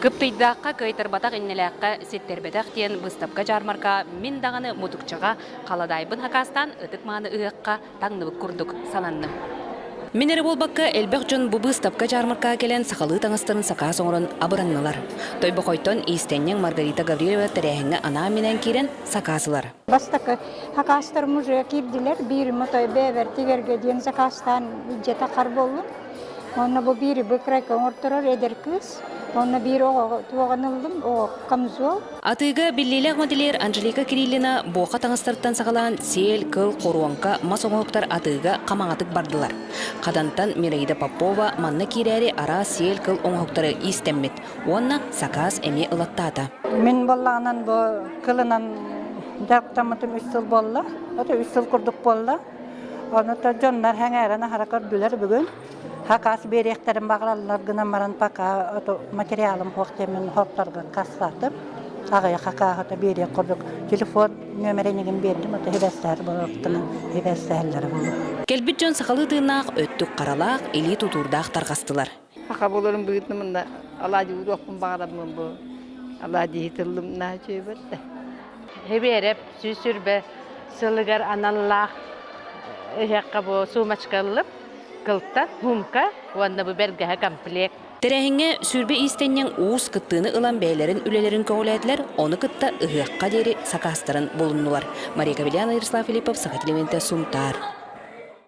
Кыптыйдаахха, кыайтарбатах иннэлээххэ ситтэрбэтэх диэн быыстапка-дьаармарка мин даҕаны мутукчаҕа халадаайбын акаастаан ытык-мааны ыһыахха таҥныбыт курдук сананным. Мин эрэ буолбакка, элбэх дьон бу быыстапка-дьаармаркаҕа кэлэн сахалыы таҥастарын сакаас оҥорон абыраннылар. Тойбохойтон иистэнньэҥ Маргарита Гаврильева тэрээһиҥҥэ анаан-минээн киирэн сакаас ылар. Бастакы акаастар музейга киирдилэр, биир Мотой бэйэбэр тигэргэ диэн сакаастаан дьиэтэ хар буолла. Уонна бу биир быкрайка оҥорторор эдэр кыыс. Уонна биир оҕоҕо туоҕан ыллым, оҕо камзол. Атыыга биллиилээх моделер Анжелика Кириллина буоха таҥастарыттан саҕалаан сиэл, кыл, хоруоҥка, мас оҥоһуктар атыыга хамаҕатык бардылар. Хатантан Мираида Попова манна киирээри араас сиэл, кыл оҥоһуктары иистэммит уонна сакаас эмиэ ылаттаата. Мин буоллаҕынан бу кылынан дьахтаммытым үс сыл буолла. Это үс сыл курдук буолла. Ону то дьоннор сэҥээрэн аһара көрдүлэр бүгүн. Хакас биэриэхтэрин баҕараллар гынан баран пока материалым суох диэмин хоттаргын кассатым. Аҕыйа хакааһыта биэриэх курдук телефон нөмерин игин биэрдим ото хибэстэһэр болортунан хибэстэһэллэрэ буолу. Кэлбит дьон сахалыы тыыннаах өттүк-харалаах, илии тутуурдаах тарҕастылар. Саха болорун быһытын мында алаадьы уруохпун баҕарабын бу алаадьыһы тыллым на чөйбөртө. Хибиэрэп сүүс сүрбэ сылыгар аналлаах эһиэхэ бу суумачка ыллып кылта, хумка уонна бу бэргэһэ комплект. Тэрээһиҥҥэ сүүрбэ иистэнньэҥ уус кыттыыны ылан бэйэлэрин үлэлэрин көҕүлээтилэр, ону кытта ыһыахха диэри сакаастарын булуннулар. Мария Кавелян, Ярослав Филиппов, Саха телевидениетэ, Сунтаар.